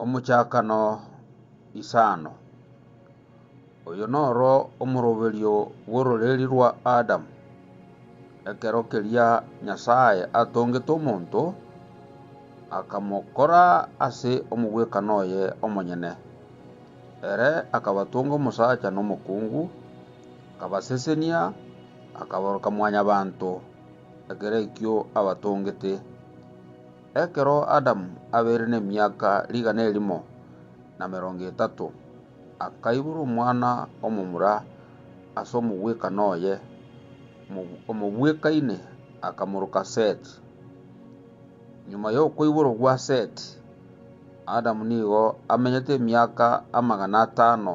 Omochakano isano. Oyo noro omoroberio bw'ororeria rwa Adamu. Ekero keria Nyasae atongete omonto, akamokora ase omogwekano oye omonyene. Ere akabatonga omosacha na omokungu, akabasesenia, akabaroka mwanyabanto. Ekero ekio abatongete, ekero Adamu abeire nemiaka rigana erimo na merongo etato, akaibora omwana omomura ase omogwekano oye, omobwekaine akamoroka Seti. Nyuma y'okoiborwa gwa Seti, Adamu nigo amenyete emiaka amagana atano.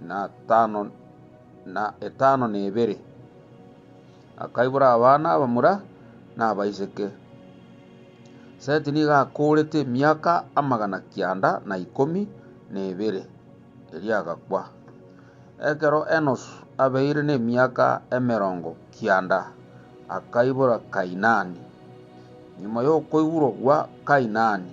na tano na etano na ebere. Akaibora abana abamura na abaiseke. Seti nigo akoorete emiaka amagana kianda na ikomi na ebere, erio agakwa. Ekero Enosu abeire nemiaka emerongo kianda akaibora Kainani. Nyuma y'okoiborwa gwa Kainani,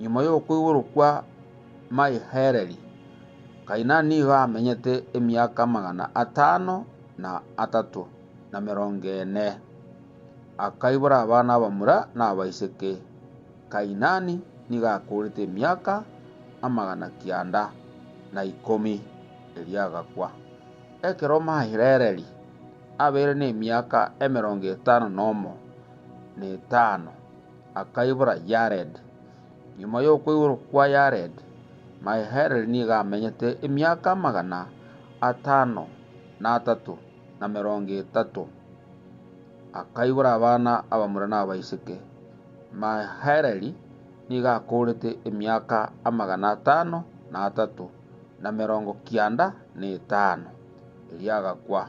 Nyuma y'okoigorokwa Mahelaleli, Kainani nigo amenyete emiaka amagana atano na atato na emerongo ene. Akaibora abana abamura na abaiseke. Kainani nigo akoorete emiaka amagana kianda na ikomi, erio agakwa. Ekero Mahelaleli abeire nemiaka emerongo etano nomo na etano, akaibora Yared. Nyuma y'okweirwa kwa Yared, Mahelalel nigo amenyete emiaka amagana atano na atato na emerongo etato, akaibora abana abamura na abaiseke. Mahelalel nigo akoorete emiaka amagana atano na atato na emerongo kianda na etano, erio agakwa.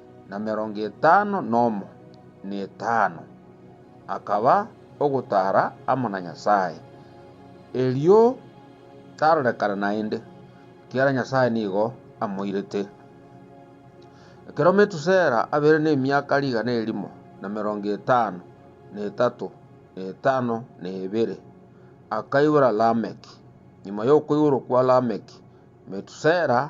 na merongo etano nomo netano, akaba ogotara amo na Nyasae, erio tarorekana naende, ekiagera Nyasae nigo amoirete. Ekero Metusela abeire nemiaka rigana erimo na merongo etano na etato na etano na ebere, akaibora Lameki. Nyuma y'okoiborwa kwa Lameki, Metusela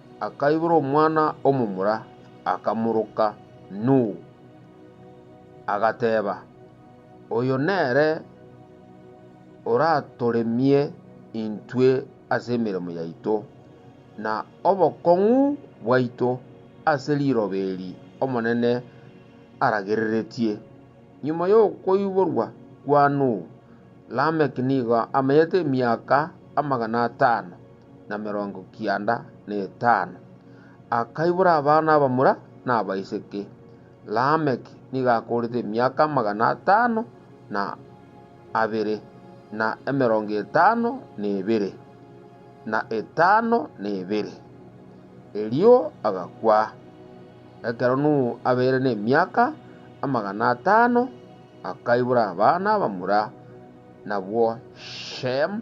Akaibora omwana omomura, akamoroka Nuhu, agateba, Oyo nere oratoremie intwe ase emeremo yaito, na obokong'u bwaito ase riroba eri Omonene aragereretie. Nyuma y'okoiborwa kwa Nuhu, Lameki nigo amanyete emiaka amagana atano. na emerongo kianda na etano, akaibora abana abamura na abaiseke. Lameki nigo akoorete emiaka amagana atano na abere, na emerongo etano na ebere, na etano na ebere, erio agakwa. Ekero Nuhu abeire nemiaka amagana atano, akaibora abana abamura, nabwo Shemu,